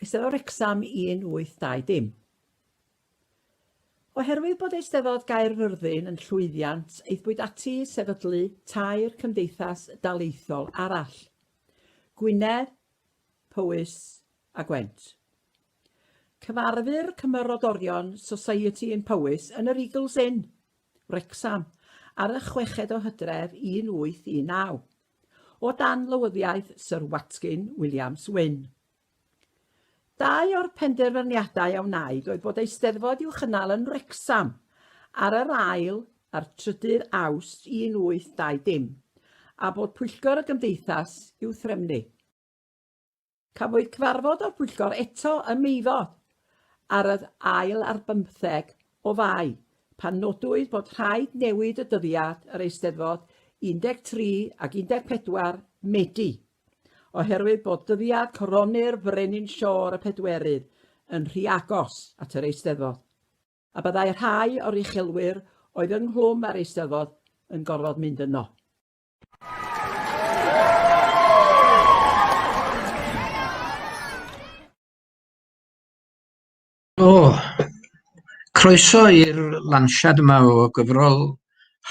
Eisteddfod Wrecsam 1820. Oherwydd bod Eisteddfod Gaerfyrddin yn llwyddiant, aethpwyd ati i sefydlu tair cymdeithas daleithiol arall, Gwynedd, Powys a Gwent. Cyfarfu'r cymerodorion Society yn Powys yn yr Eagles Inn, Wrecsam, ar y chweched o hydref 1819. o dan lywyddiaeth Syr Watkin Williams Wynn. Dau o'r penderfyniadau a wnaed oedd bod Eisteddfod i'w chynnal yn Wrecsam ar yr ail a'r trydydd Awst 1820 a bod Pwyllgor y Gymdeithas i'w threfnu. Cafwyd cyfarfod o'r pwyllgor eto ym Meifod ar yr ail ar bymtheg o Fai, pan nodwyd bod rhaid newid y dyddiad yr Eisteddfod 13 ac 14 Medi, oherwydd bod dyddiad coronu'r Frenin Siôr y Pedwerydd yn rhy agos at yr Eisteddfod, a byddai rhai o'r uchelwyr oedd ynghlwm â'r Eisteddfod yn gorfod mynd yno. O, croeso i'r lansiad yma o gyfrol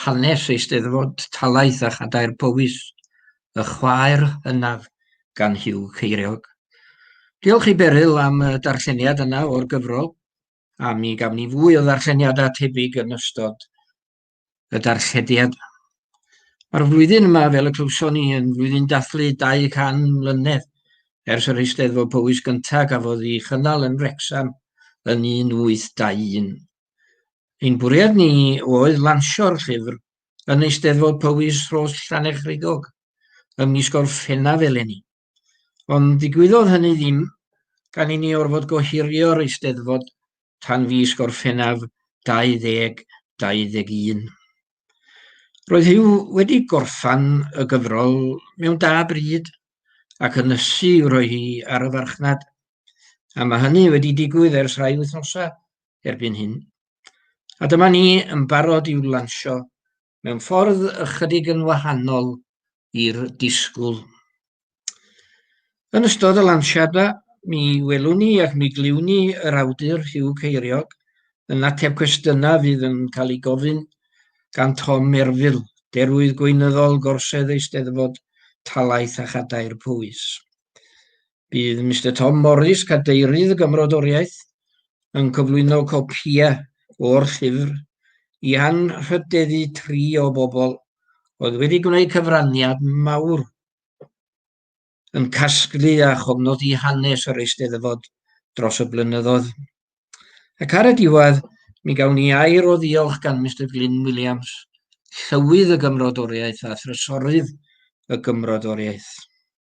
hanes Eisteddfod Talaith a Chadair Powys, y chwaer hynaf gan Hugh Ceiriog. Diolch i Beryl am y darlleniad yna o'r gyfrol, a mi gaf ni fwy o ddarlleniadau tebyg yn ystod y darchediad. Mae'r flwyddyn yma, fel y clywson ni, yn flwyddyn dathlu 200 mlynedd ers yr Eisteddfod Powys gyntaf gafodd ei chynnal yn Wrexham yn 1821. Ein bwriad ni oedd lansio'r llyfr yn Eisteddfod Powys Rhos Llanechrigog ym mis Gorffennaf eleni. Ond digwyddodd hynny ddim gan i ni orfod gohirio'r Eisteddfod tan fis Gorffennaf 2021. Roedd Huw wedi gorffan y gyfrol mewn da bryd ac yn ysu i'w rhoi hi ar y farchnad, a mae hynny wedi digwydd ers rhai wythnosau erbyn hyn. A dyma ni yn barod i'w lansio mewn ffordd ychydig yn wahanol i'r disgwyl. Yn ystod y lansiadau, mi welwn ni ac mi glywn ni yr awdur Hugh Ceiriog yn ateb cwestiynau fydd yn cael ei gofyn gan Tom Merfil, Derwydd Gweinyddol Gorsedd Eisteddfod Talaith a Chadair Powys. Bydd Mister Tom Morris, Cadeirydd y Gymrodoriaeth, yn cyflwyno copïau o'r llyfr i anrhydeddu tri o bobl oedd wedi gwneud cyfraniad mawr yn casglu a chofnodi hanes yr Eisteddfod dros y blynyddoedd. Ac ar y diwedd, mi gawn ni air o ddiolch gan Mister Glyn Williams, Llywydd y Gymrodoriaeth a Thrysorydd y Gymrodoriaeth.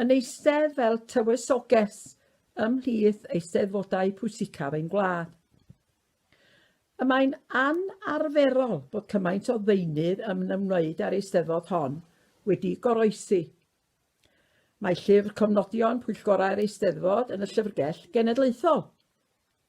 yn eistedd fel tywysoges ymhlith eisteddfodau pwysicaf ein gwlad. Y mae'n anarferol bod cymaint o ddeunydd yn ymwneud â'r eisteddfod hon wedi goroesi. Mae llyfr cofnodion pwyllgorau'r eisteddfod yn y Llyfrgell Genedlaethol.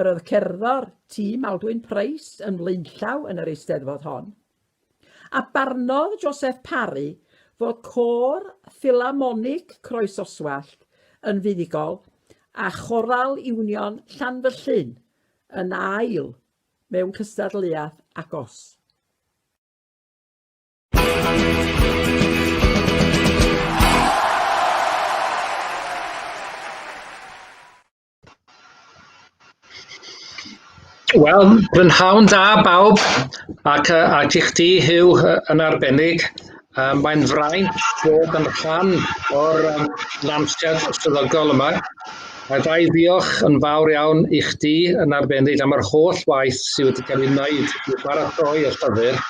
Yr oedd cerddor Tŷ Maldwyn Price yn flaenllaw yn yr Eisteddfod hon, a barnodd Joseph Parry fod Côr Ffilharmonig Croesoswallt yn fuddugol a Choral Union Llanfyllin yn ail mewn cystadleuaeth agos. Wel, prynhawn da bawb, ac yy a i chdi Huw yy yn arbennig. Yym mae'n fraint bod yn rhan o'r yym lansiad swyddogol yma, a ga i ddiolch yn fawr iawn i chdi yn arbennig am yr holl waith sydd wedi cael ei wneud i baratoi y llyfr,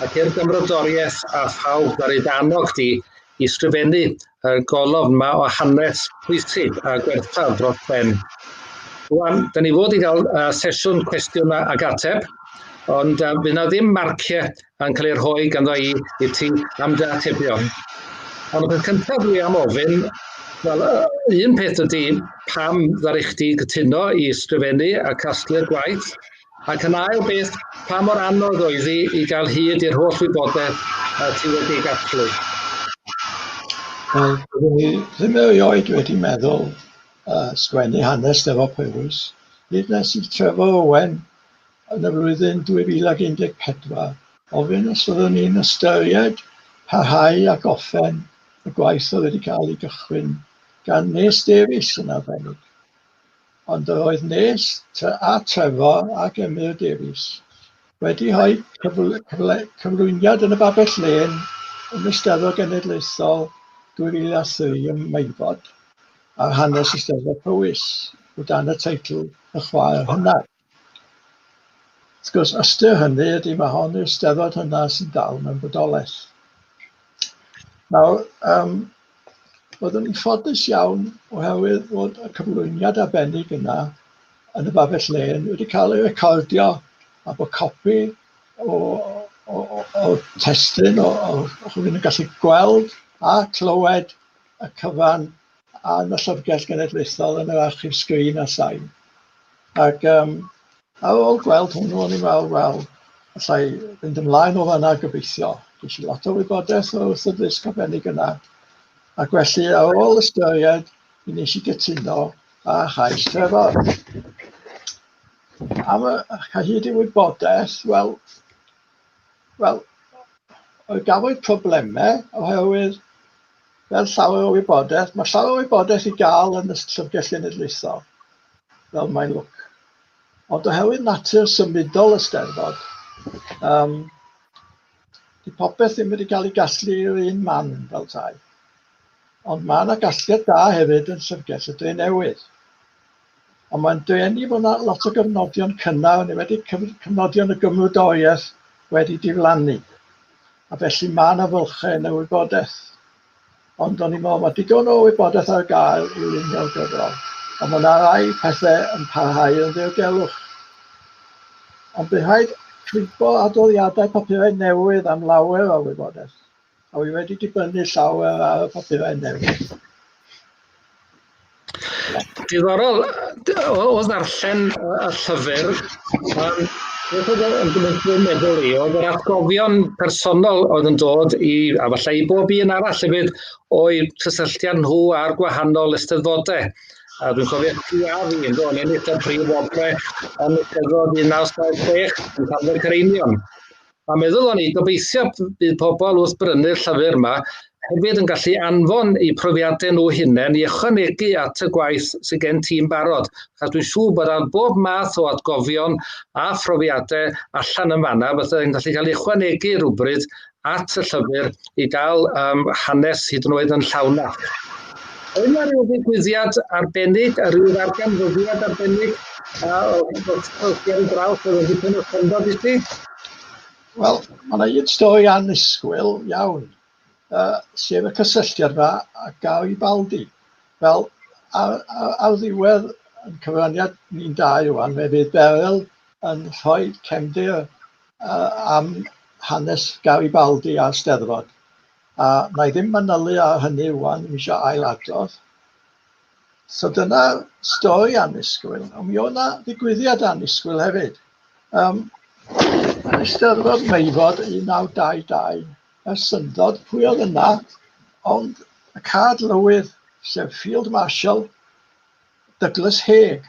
ac i'r gymrodoriaeth a phawb ddaru dy annog di i sgrifennu y golofn yma o hanes pwysig a gwerthfawr dros ben. Rwan, da ni fod i gael uh, sesiwn cwestiwn ag ateb, ond uh, bydd na ddim marciau yn cael ei rhoi ganddo i, i ti am dy atebion. Ond y peth cyntaf dwi am ofyn, wel, un peth ydy pam ddari chdi gytuno i sgrifennu a casglu'r gwaith, Ac yn ail beth, pa mor anodd oedd hi i gael hyd i'r holl wybodaeth y ti wedi gasglu? Wel, byddwn i ddim erioed wedi meddwl uh, sgwennu hanes Steddfod Powys, hyd nes i Trevor Owen yn y flwyddyn 2014 ofyn os fyddwn ni'n ystyried parhau a goffen y gwaith oedd wedi cael ei gychwyn gan Nes Davies yn arbennig. ond yr oedd nes tŷ a Trefor ac Emyr Davies wedi rhoi cyfl cyfle cyflwyniad yn y Babell Lên yn y Steddfod Genedlaethol 2003 ym Meifod ar hanes y Steddfod Powys o dan y teitl Y Chwaer Hynaf. Wrth gwrs, ystyr hynny ydy mae hon yw'r steddfod hynna sy'n dal mewn bodolaeth. Nawr, um, byddwn ni'n ffodus iawn oherwydd bod y cyflwyniad arbennig yna yn y babell len wedi cael ei recordio a bod copi o, o, o, o testyn o, o, o rhywun yn gallu gweld a clywed y cyfan a yn y Llyfrgell Genedlaethol yn yr Archif Sgrin a Sain. Ac um, ar ôl gweld hwnnw, o'n i'n meddwl, wel, allai fynd ymlaen o fanna gobeithio. Dwi'n siŵr lot o wybodaeth o'r wrth y ddysg arbennig yna. Ac felly, ar ôl ystyried, mi nes i gytuno a chais Trevor. Am y hyd i wybodaeth, wel, Wel, oedd gafodd problemau oherwydd fel llawer o wybodaeth, mae llawer o wybodaeth i gael yn y llyfrgell genedlaethol, fel mae'n lwc. Ond oherwydd natur symudol y steddfod, um, di popeth ddim wedi cael ei gasglu i'r un man fel tai. Ond mae yna gasgliad da hefyd yn llyfrgell y dre newydd. Ond mae'n denu bod yna lot o gyfnodion cynnar, yn enwedig cyfnodion y gymrydoriaeth wedi diflannu. A felly mae yna fylchau yn y wybodaeth. Ond o'n i'n meddwl mae digon o wybodaeth ar gael i lunio'r gyfrol. Ond mae yna rai pethau yn parhau yn ddiogelwch. Ond bydd rhaid cwympo adroddiadau papurau newydd am lawer o wybodaeth. A wi wedi dibynnu llawer ar y papurau newydd. Diddorol, o ddarllen y llyfr, beth oedd yn gwneud i'n meddwl i, oedd yr atgofion personol oedd yn dod i, a falle i bob un arall hefyd, o'i cysylltiad nhw a'r gwahanol ysteddfodau. A dwi'n cofio ti a fi yn dod yn eitha prif obrau yn y cyfod 1976 yn cael y Cereinion. A meddylon ni, gobeithio bydd pobl wrth brynu'r llyfr yma hefyd yn gallu anfon eu profiadau nhw hunain i ychwanegu at y gwaith sydd gen ti'n barod, achos dwi'n siŵr bod ar bob math o atgofion a phrofiadau allan yn fanna, fydda'n gallu cael ei ychwanegu rhywbryd at y llyfr i gael um, hanes hyd yn oed yn llawnach. Oedd yna rhyw ddigwyddiad arbennig, a rhyw ddarganfyddiad arbennig, a oedd Gerry Braw, oedd yn dipyn o syndod i ti? Wel, mae yna un stori annisgwyl iawn, uh, sef y cysylltiad yma a gael i baldi. Wel, ar, ar, ar ddiwedd yn cyfraniad ni'n dau rwan, fe fydd Beryl yn rhoi cefndir uh, am hanes Gary Baldi a'r Steddfod. A na i ddim manylu ar hynny rwan, mi eisiau ail adrodd. So dyna stori annisgwyl, ond mi oedd yna ddigwyddiad annisgwyl hefyd. Um, yn Eisteddfod Meifod 1922, y syndod, pwy oedd yna, ond y cad lywydd, sef Field Marshal Douglas Haig.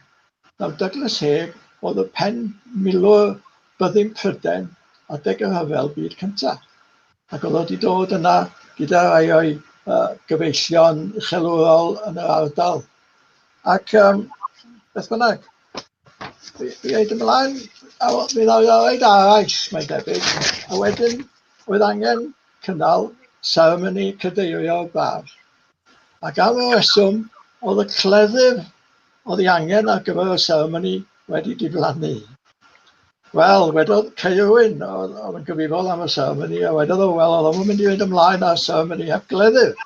Nawr, Douglas Haig oedd y pen milwr byddin Pryden adeg y rhyfel byd cyntaf. Ac oedd o 'di dod yna gyda rhai o'i uh, gyfeillion uchelwrol yn yr ardal. Ac um, beth bynnag, fi wedi ymlaen, a mi ddaw'r oed arall, mae'n debyg, a wedyn oedd angen cynnal seremoni cadeirio braf. Ac am y reswm, oedd y cleddyf oedd ei angen ar gyfer y seremoni wedi diflannu. Wel, wedodd Cei Owen, oedd oedd yn gyfrifol am y seremoni, a wedodd o, wel, oedd o'n mynd i fynd ymlaen â'r seremoni heb gleddyf.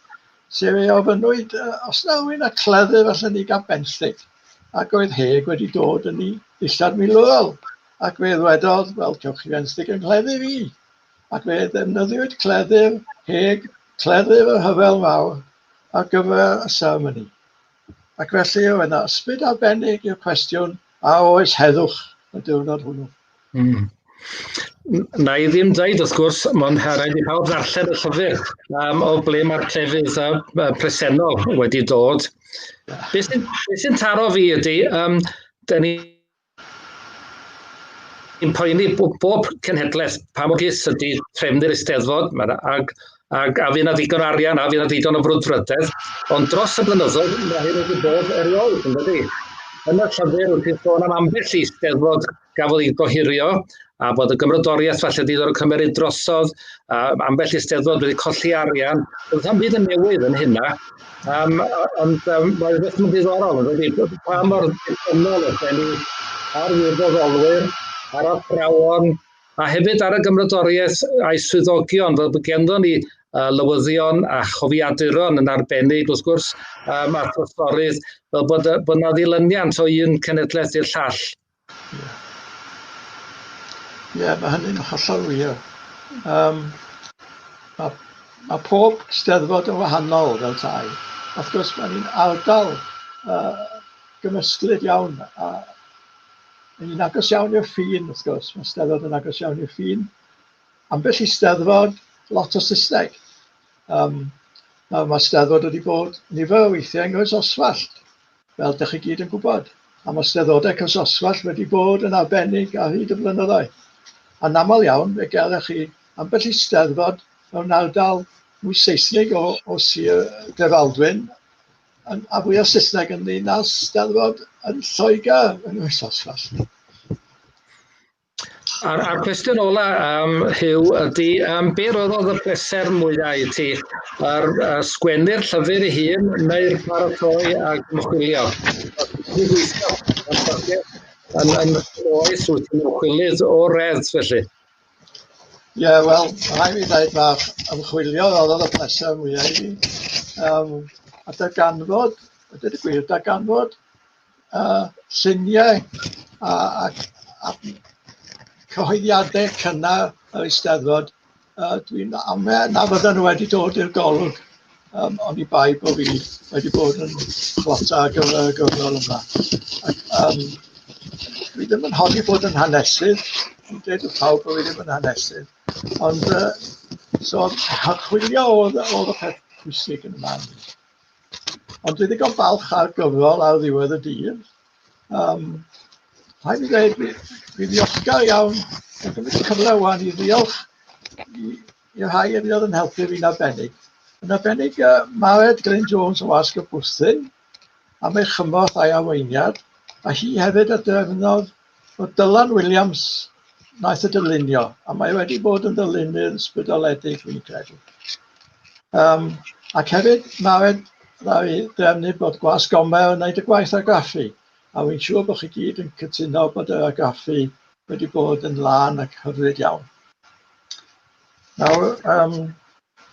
Sef ei ofynnwyd, uh, os na rwy'n a cleddyf allan ni gael benthyg. Ac oedd Heg wedi dod yn ei ddillad milwrol, ac fe ddwedodd, wel, cewch chi fenthyg yn cleddyf i. Ac fe ddefnyddiwyd cleddyf Heg, cleddyf y rhyfel mawr, ar gyfer y seremoni. Ac felly, oedd yna ysbryd arbennig i'r cwestiwn, a oes heddwch y diwrnod hwnnw? Mm. Na i ddim dweud, wrth gwrs, mae'n rhaid i pawb ddarllen y llyfr um, o ble mae'r crefydd a, a presennol wedi dod. Beth sy'n sy taro fi ydy, um, da ni Yn poeni bob cenhedlaeth, pa mor gys ydy trefnu'r Eisteddfod, mae'n ag, ag a fydd yna ddigon arian, a fydd yna ddigon o frwdfrydedd, ond dros y blynyddoedd mae hyn wedi bod erioed yn dydy. Yn y llyfr wrth i'n sôn am ambell i Eisteddfod gafodd ei gohirio, a bod y gymrodoriaeth falle wedi dod o cymeryd drosodd, a ambell i Eisteddfod wedi colli arian, bydd hyn byd yn newydd yn hynna, Um, ond um, mae beth yn ddiddorol yn wedi pa mor ddiffynol ydyn ni ar wirfoddolwyr, ar athrawon, a hefyd ar y gymrydoriaeth a'i swyddogion, fel bod genddo ni uh, lywyddion a chofiaduron yn arbennig, wrth gwrs, um, a throsorydd, fel bod, bod yna ddilyniant o un cenedlaeth i'r llall. Ie, mae hynny'n hollol wir. Um, mae, mae pob steddfod yn wahanol fel tai. Wrth gwrs, mae ni'n ardal uh, gymysglyd iawn. A, mae ni'n agos iawn i'r ffin, wrth gwrs. Mae steddfod yn agos iawn i'r ffin. Ambell i steddfod, lot o Saesneg. Um, mae, mae steddfod wedi bod nifer o weithiau yng Nghroes Oswallt. fel dych chi gyd yn gwybod, am y steddodau cysoswallt wedi bod yn arbennig ar hyd y blynyddoedd. Anaml iawn, fe gelech chi ambell i steddfod mewn ardal mwy Seisnig o, o Sir Drefaldwyn, yn, a fwy o Saesneg yn ni na steddfod yn Lloegr yn Nghysoswallt. A'r, ar cwestiwn ola, um, Hugh, ydy, um, be roedd oedd y pleser mwyaf i ti? Ar uh, sgwennu'r llyfr i hun, neu'r paratoi a gymchwilio? Yn, yn oes wyt ti'n ymchwilydd o redd, felly? Ie, yeah, wel, rhaid mi ddweud mae'r ymchwilio oedd y pleser mwyaf i fi. Um, a darganfod, a dweud y gwir, darganfod uh, lluniau a, a, a cyhoeddiadau cynnar yr Eisteddfod. Uh, Dwi'n amau na fydden nhw wedi dod i'r golwg um, ond i bai bod fi wedi bod yn chwata ar gyfer y gyfnod yma. Ac, um, fi ddim yn honni bod yn hanesydd, dwi'n dweud y pawb bod fi ddim yn hanesydd, ond uh, so, chwilio oedd, oedd y peth pwysig yn y man. Ond dwi'n ddigon falch ar gyfrol ar ddiwedd y dydd. Um, rhaid i ddweud, fi, fi ddiolchgar iawn yn cymryd y cyfle wan i ddiolch i, i rhai yn oedd yn helpu fi'n arbennig. Yn arbennig uh, Mared Glyn Jones o Asg y Bwthyn am ei chymorth a'i arweiniad, a hi hefyd a drefnodd Wel, Dylan Williams wnaeth y dylunio, a mae wedi bod yn ddylunydd ysbrydoledig, fi'n credu. Um, ac hefyd, mae rhaid i drefnu bod Gwas Gomer yn gwneud y gwaith argraffu, a fi'n siŵr bod chi gyd yn cytuno bod yr argraffu wedi bod yn lân ac hyfryd iawn. Nawr, um,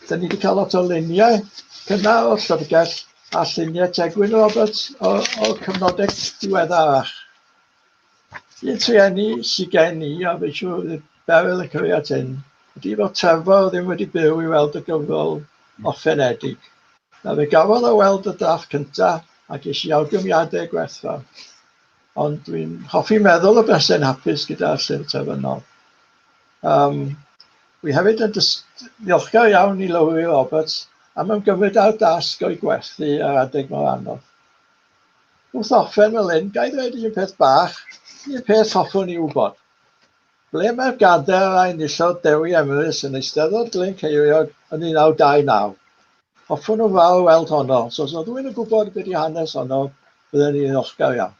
da ni wedi cael lot o luniau cynnar o'r llyfrgell a lluniau Tegwyn Roberts o'r cyfnodau diweddarach. I'r trueni sy gen i, a fi'n siŵr bydd Beryl yn cofio at hyn, ydy fod Trevor ddim wedi byw i weld y gyfrol orffenedig. Na fe gafodd o weld y drafft cyntaf a ges i awgrymiadau gwerthfawr. Ond dwi'n hoffi meddwl o bethau'n hapus gyda'r llyfr terfynol. Um, wi hefyd yn ddiolchgar iawn i Lowri Roberts am ymgymryd â'r dasg o'i gwerthu ar adeg mor anodd. Wrth orffen fel hyn, ga i ddweud un peth bach, un peth hoffwn i wybod. Ble mae'r gadair a enillodd Dewi Emrys yn Eisteddfod Glyn Ceiriog yn 1929? Hoffwn o fawr weld honno, so os oedd rhywun yn gwybod beth di hanes honno, byddwn i'n ddiolchgar iawn.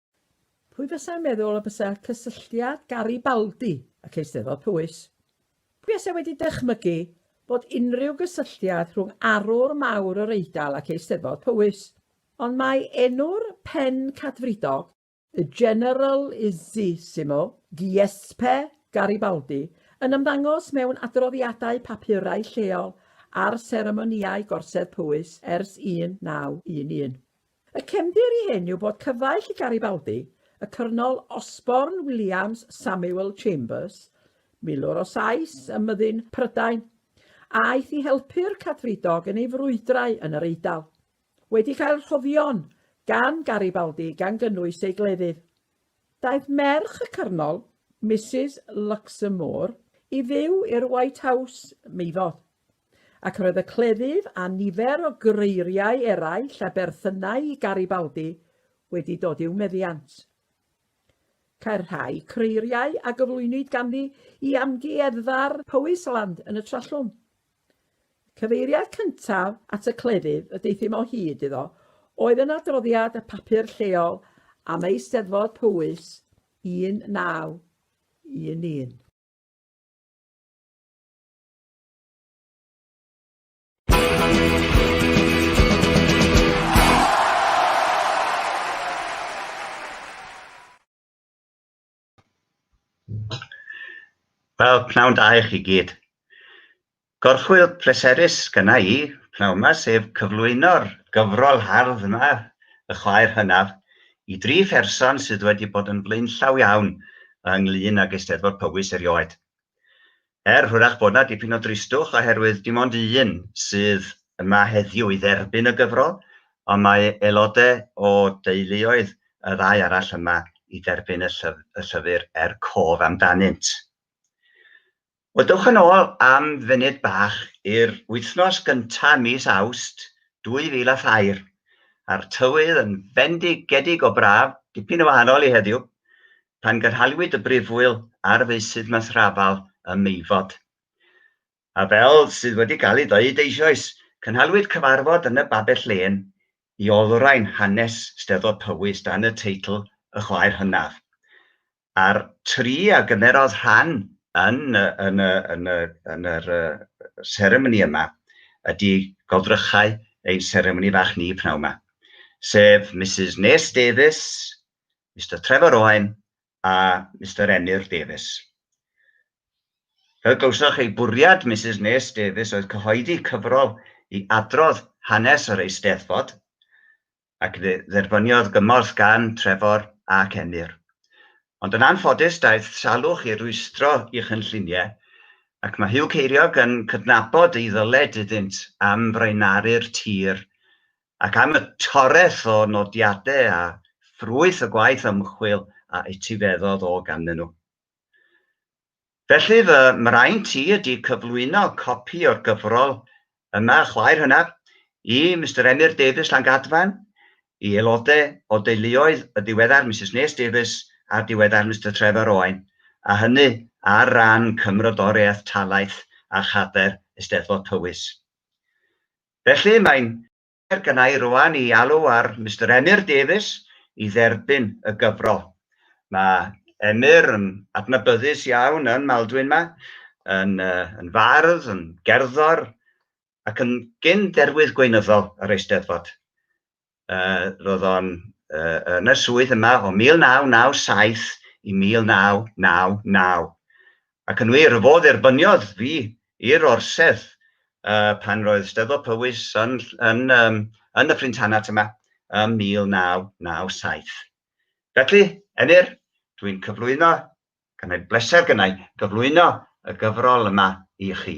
Pwy fysa'n meddwl y bysa cysylltiad Garibaldi ac Eisteddfod Powys? Pwy fysa wedi dychmygu bod unrhyw gysylltiad rhwng arwr mawr yr Eidal ac Eisteddfod Powys? Ond mae enw'r pen cadfridog, y General Isissimo Giuseppe Garibaldi, yn ymddangos mewn adroddiadau papurau lleol ar seremonïau gorsedd Powys ers 1911. Y cefndir i hyn yw bod cyfaill i Garibaldi, y Cyrnol Osborne Williams Samuel Chambers, milwr o Sais ym myddin Prydain, a aeth i helpu'r Cadfridog yn ei frwydrau yn yr Eidal, wedi cael rhoddion gan Garibaldi gan gynnwys ei gleddyf. Daeth merch y Cyrnol, Misus Luxmoore, i fyw i'r White House, Meifod. Ac roedd y cleddyf a nifer o greiriau eraill a berthynai i Garibaldi wedi dod i'w meddiant. Cair rhai creiriau a gyflwynwyd ganddi i amgueddfa'r Powisland yn y Trallwm. Cyfeiriad cyntaf at y cleddyf y deuthum o hyd iddo oedd yn adroddiad y papur lleol am Eisteddfod Powys 1911. Wel, pnawn da i chi gyd. Gorchwyl pleserus gyna i, pnawn yma, sef cyflwyno'r gyfrol hardd yma, y chwaer hynaf, i dri pherson sydd wedi bod yn flaenllaw iawn ynglyn ag Eisteddfod Powys erioed. Er hwyrach bod 'na dipyn o dristwch oherwydd dim ond un sydd yma heddiw i dderbyn y gyfrol, ond mae aelodau o deuluoedd y ddau arall yma i dderbyn y llyfr er cof amdanynt. Wel, dewch yn ôl am funud bach i'r wythnos gyntaf mis Awst 2003, a'r tywydd yn fendigedig o braf, dipyn yn wahanol i heddiw, pan gynhaliwyd y Brifwyl ar feysydd Mathrafal ym Meifod. A fel sydd wedi cael ei ddweud eisoes, cynhaliwyd cyfarfod yn y Babell Lên i olrhain hanes Steddfod Powys dan y teitl Y Chwaer Hynaf. A'r tri a gymerodd rhan yn, yn, yn, yn yr seremoni yma ydy goddrychau ein seremoni fach ni pnawn 'ma, sef Misus Nes Davies, Mister Trevor Owen a Mister Emyr Davies. Fel glywsoch, ei bwriad Misus Nes Davies oedd cyhoeddi cyfrol i adrodd hanes yr Eisteddfod, ac fe dderbyniodd gymorth gan Trevor ac Emyr. Ond yn anffodus, daeth salwch i rwystro i chynlluniau, ac mae Huw Ceiriog yn cydnabod ei ddyled iddynt am fraenaru'r tir ac am y toreth o nodiadau a ffrwyth y gwaith ymchwil a etifeddodd o ganddyn nhw. Felly fy mraint i ydy cyflwyno copi o'r gyfrol yma, Chwaer Hynaf, i Mister Emyr Davies Llangadfan, i aelodau o deuluoedd y diweddar Misus Nes Davies a'r diweddar Mister Trevor Owen, a hynny ar ran Cymrodoriaeth Talaith a Chadair Eisteddfod Powys. Felly, mae'n her gynna' i rŵan i alw ar Mister Emyr Davies i dderbyn y gyfrol. Mae Emyr yn adnabyddus iawn yn Maldwyn 'ma, yn yn fardd, yn gerddor, ac yn gyn-derwydd gweinyddol yr Eisteddfod. uh, roedd o'n uh, yn y swydd yma o 1997 i 1999. Ac yn wir, fo dderbyniodd fi i'r orsedd uh, pan roedd Steddfod Powys yn, yn, um, yn y Ffrintanat yma ym 1997. Felly, Emyr, dwi'n cyflwyno, gan ei bleser gynnau, gyflwyno y gyfrol yma i chi.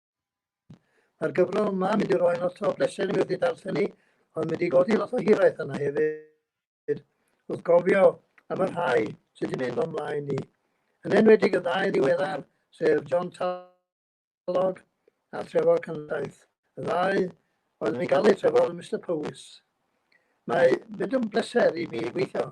Mae'r gyfrol yma yn mynd i roi lot o bleser i mi wrth ei darllen hi, ond mynd i godi lot o hiraeth arna hefyd, wrth gofio am y rhai sydd wedi mynd o'n mlaen ni, yn enwedig y ddau ddiweddar, sef John Talog a Trefor Cyndaith, y ddau oedd yn ei galw Trefor yn Mister Powys. Mae mynd yn bleser i mi gweithio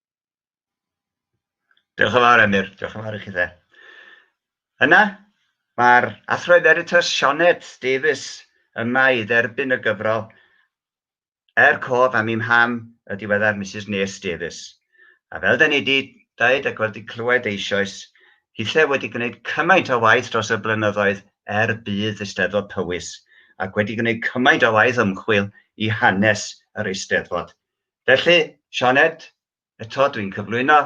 Diolch yn fawr, Emyr. Diolch yn fawr i chi dde. Yna, mae'r Athro Emeritus Sioned Davies yma i dderbyn y gyfrol Er cof am i'm ham y diweddar Mrs Nes Davies. A fel da ni wedi dweud ac wedi clywed eisoes, hithau wedi gwneud cymaint o waith dros y blynyddoedd er budd Eisteddfod Powys ac wedi gwneud cymaint o waith ymchwil i hanes yr Eisteddfod. Felly, Sioned, eto dwi'n cyflwyno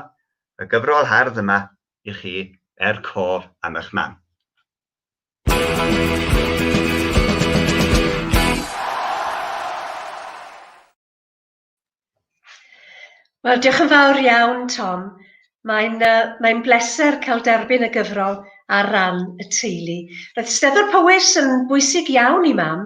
y gyfrol hardd yma i chi er cof am eich mam. Wel, diolch yn fawr iawn, Tom. Mae'n uh, mae'n bleser cael derbyn y gyfrol ar ran y teulu. Roedd Steddfod Powys yn bwysig iawn i mam,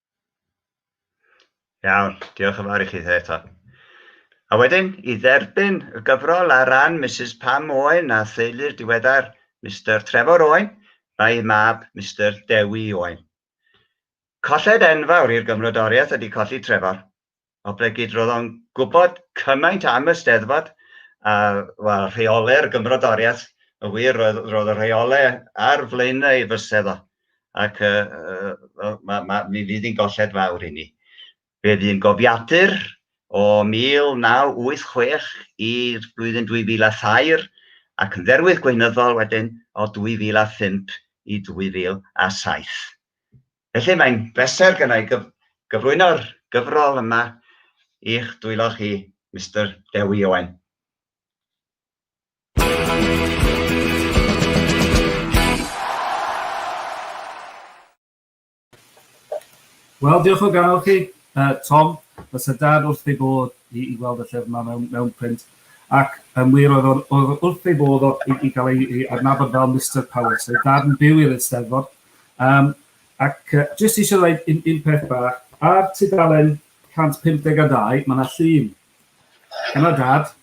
Iawn, diolch yn fawr i chi eto. A wedyn, i dderbyn y gyfrol ar ran Mrs Pam Owen a theulu'r diweddar Mr Trevor Owen, mae ei mab Mr Dewi Owen. Colled enfawr i'r gymrodoriaeth ydy colli Trevor. o ble gyd roedd o'n gwybod cymaint am y Steddfod, a wel, rheole'r gymrodoriaeth, y wir, roedd, roedd y rheole ar flaenau ei fysedd o, ac uh, uh, ma, ma, mi fydd hi'n golled fawr i ni. Fe fydd yn gofiadur o 1986 i'r flwyddyn 2003, ac yn dderwydd gweinyddol wedyn o 2005 i 2007. Felly mae'n bleser gyda i gyflwyno'r gyfrol yma i'ch dwylo chi, Mister Dewi Owen. Wel, diolch o galon chi, uh, Tom. Fysa dad wrth ei bod i, i weld y llyfr yma mewn, mewn print. Ac yn wir oedd o'n wrth ei bod o, i, i gael ei, ei adnabod fel Mr Powell. So dad yn byw i'r Eisteddfod, Yym, ac yy jyst eisiau dweud un, un peth bach, ar tudalen 152 mae yna llun, yna dad,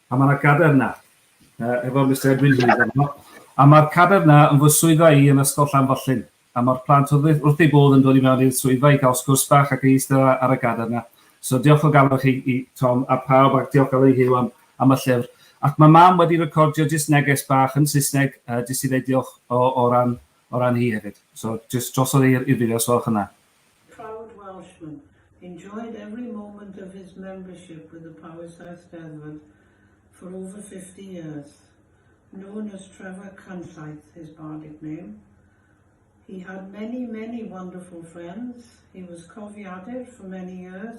a mae yna gader yna, uh, efo Mr Edwin Heath yno, a mae'r cader yna yn fy swyddfa i yn ysgol Llanfyllin, a mae'r plant wrth ei bodd yn dod i mewn i'r swyddfa i gael sgwrs bach ac i eistedd ar y gader yna. So diolch o galon chi i Tom a pawb ac diolch galon i Huw am am y llyfr ac mae mam wedi recordio jyst neges bach yn Saesneg yy jyst i ddeud diolch o o ran o ran hi hefyd. So jyst drosodd e i'r i'r fideos gwelwch yna. Proud Welshman, enjoyed every moment of his membership with the Powerside Steddfod for over fifty years. Known as Trevor Canllaith, his bardic name. He had many, many wonderful friends. He was cofiadur for many years.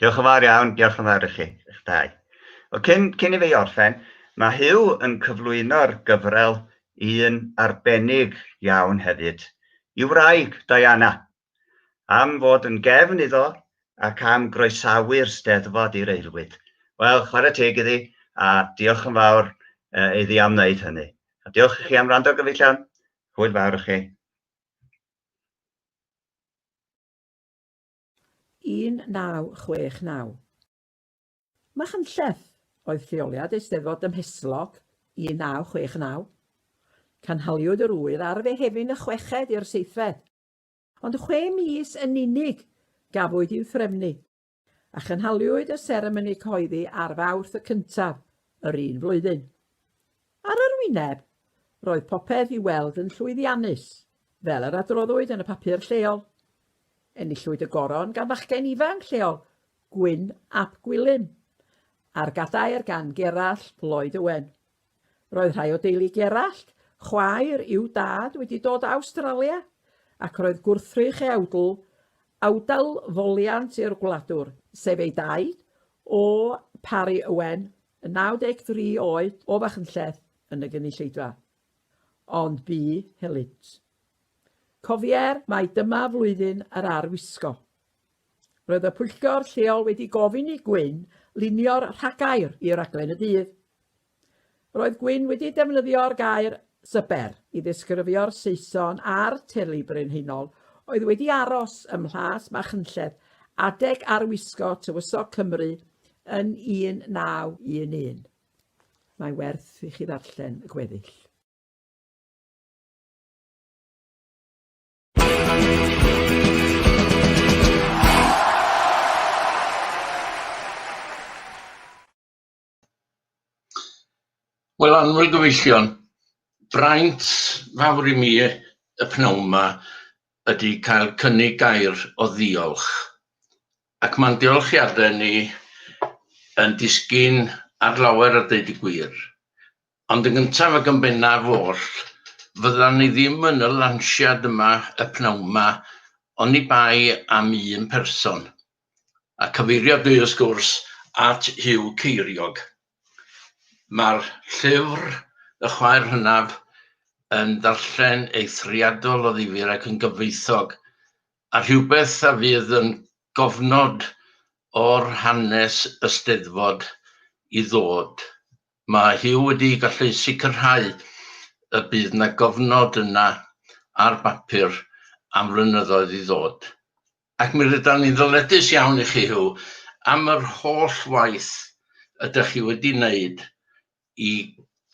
Diolch yn fawr iawn, diolch yn fawr i chi, eich dau. O, cyn, cyn i fi orffen, mae Huw yn cyflwyno'r gyfrel i un arbennig iawn hefyd, i wraig Diana, am fod yn gefn iddo ac am groesawu'r steddfod i'r eilwyd. Wel, chwarae teg iddi, a diolch yn fawr uh, iddi am wneud hynny. A diolch i chi am rando gyfellion, hwyl fawr i chi. 1969. Machynlleth oedd lleoliad Eisteddfod Dymhestlog 1969. Canhaliwyd yr ŵyl ar Fehefin y chweched i'r seithfed, ond chwe mis yn unig gafwyd i'w threfnu, a chynhaliwyd y seremoni cyhoeddi ar Fawrth y cyntaf yr un flwyddyn. Ar yr wyneb, roedd popeth i'w weld yn llwyddiannus, fel yr adroddwyd yn y papur lleol. Enillwyd y goron gan fachgen ifanc lleol, Gwyn ap Gwilym, a'r gadair gan Gerallt Lloyd Owen. Roedd rhai o deulu Gerallt, chwaer i'w dad, wedi dod o Awstralia, ac roedd gwrthrych ei awdl, awdl foliant i'r gwladwr, sef ei daid, O. Parry Owen, Yn 93 oed o Fachynlleth yn y gynulleidfa. Ond bu helynt. Cofier mai dyma flwyddyn yr ar wisgo. Roedd y pwyllgor lleol wedi gofyn i Gwyn lunio'r rhagair i raglen y dydd. Roedd Gwyn wedi defnyddio'r gair Swper i ddisgrifio'r Saeson a'r Teulu Brenhinol oedd wedi aros ym Mhlas Machynlleth adeg arwisgo Tywysog Cymru yn 1911. Mae werth i chi ddarllen y gweddill. Wel anwyl gyfeillion, braint fawr i mi y pnawn ma ydi cael cynnig gair o ddiolch ac ma'n diolchiade ni yn disgyn ar lawer a deud y gwir, ond yn gyntaf ac yn bennaf oll fyddan ni ddim yn y lansiad yma y pnawn ma oni bai am un person, a cyfeirio dwi wrth gwrs at Huw Ceiriog. Mae'r llyfr Y Chwaer Hynaf yn ddarllen eithriadol o ddifyr ac yn gyfoethog, a rhywbeth a fydd yn gofnod o'r hanes y Steddfod i ddod. Mae Huw wedi gallu sicrhau y bydd 'na gofnod yna ar bapur am flynyddoedd i ddod. Ac mi rydan ni'n ddyledus iawn i chi, Huw, am yr holl waith ydych chi wedi wneud i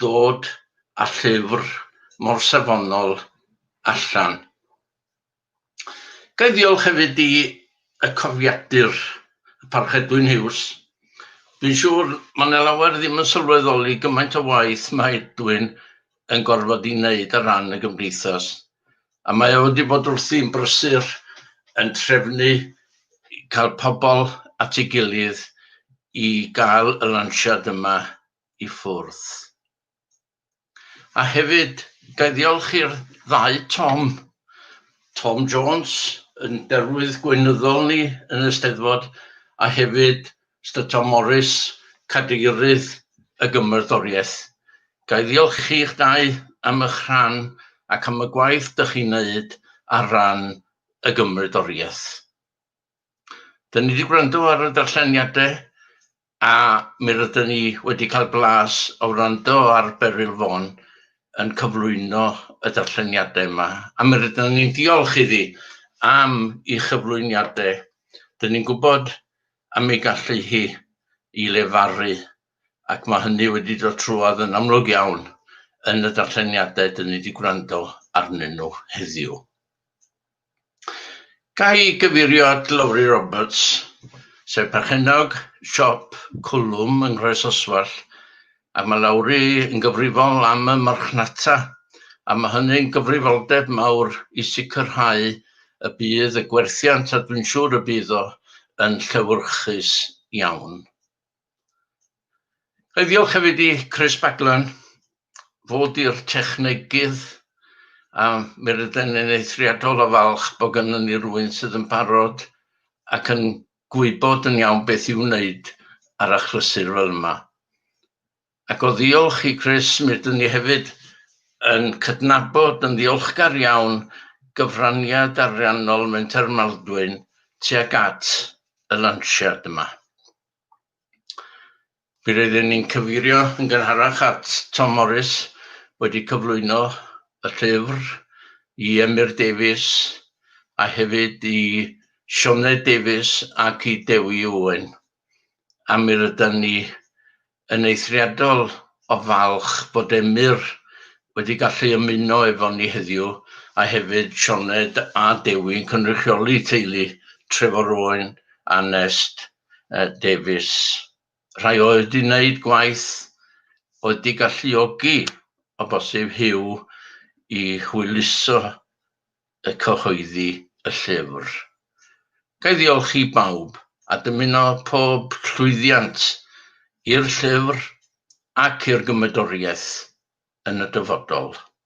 ddod â llyfr mor safonol allan. Ga i ddiolch hefyd i y cofiadur, y Parch Edwin Hughes. Dwi'n siŵr mae 'na lawer ddim yn sylweddoli gymaint o waith mae Edwin yn gorfod ei wneud ar ran y Gymdeithas. A mae o wedi bod wrthi'n brysur yn trefnu cael pobl at ei gilydd i gael y lansiad yma i ffwrdd. A hefyd, ga i ddiolch i'r ddau Tom, Tom Jones, yn derwydd gweinyddol ni yn y Steddfod, a hefyd Mister Tom Morris, Cadeirydd y Gymrodoriaeth, ga i ddiolch chi'ch dau am eich rhan ac am y gwaith dych chi'n wneud ar ran y Gymrodoriaeth. Dyn ni wedi gwrando ar y darlleniadau a mi rydyn ni wedi cael blas o wrando ar Beryl Vaughan yn cyflwyno y darlleniadau yma a mi rydyn ni'n diolch iddi am ei chyflwyniadau. Dyn ni'n gwybod am ei gallu hi i lefaru, ac mae hynny wedi dod trwodd yn amlwg iawn yn y darlleniadau dyn ni wedi gwrando arnyn nhw heddiw. Ga i gyfeirio at Lowri Roberts, sef perchennog siop Cwlwm yng Nghroesoswallt, A mae Lowri yn gyfrifol am y marchnata, a mae hynny'n gyfrifoldeb mawr i sicrhau y bydd y gwerthiant, a dwi'n siŵr y bydd o, yn llewyrchus iawn. Ga i ddiolch hefyd i Chris Baglan, fo 'di'r technegydd, a mi rydan ni'n eithriadol o falch bod gynnon ni rywun sydd yn barod ac yn gwybod yn iawn beth i'w wneud ar achlysur fel yma. Ac o ddiolch i Chris, mi ydyn ni hefyd yn cydnabod yn ddiolchgar iawn gyfraniad ariannol Menter Maldwyn tuag at y lansiad yma. Fe rydyn ni'n cyfeirio yn gynharach at Tom Morris wedi cyflwyno y llyfr i Emyr Davies a hefyd i Sioned Davies ac i Dewi Owen, a mi rydan ni yn eithriadol o falch bod Emyr wedi gallu ymuno efo ni heddiw a hefyd Sioned a Dewi'n cynrychioli teulu Trefor Owen a Nest Davies, rhai oedd wedi gwneud gwaith oedd wedi galluogi o bosib Huw i hwyluso y cyhoeddi y llyfr. Ga i ddiolch i bawb a dymuno pob llwyddiant i'r llyfr ac i'r gymedoriaeth yn y dyfodol.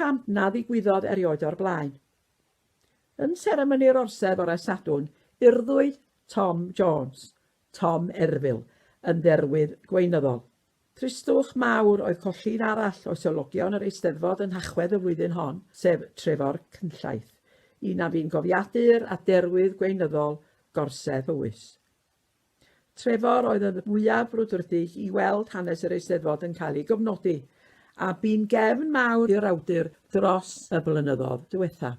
cam na ddigwyddodd erioed o'r blaen. Yn seremoni'r orsedd fore Sadwrn, urddwyd Tom Jones, Tom Erfil, yn dderwydd gweinyddol. Tristwch mawr oedd colli un arall o sewlogion yr Eisteddfod yn Nhachwedd y flwyddyn hon, sef Trefor Cynllaith, un a fu'n gofiadu'r aderwydd gweinyddol gorsedd Powys. Trefor oedd y mwyaf brwdfrydig i weld hanes yr Eisteddfod yn cael ei gofnodi, a bu'n gefn mawr i'r awdur dros y blynyddodd diwethaf.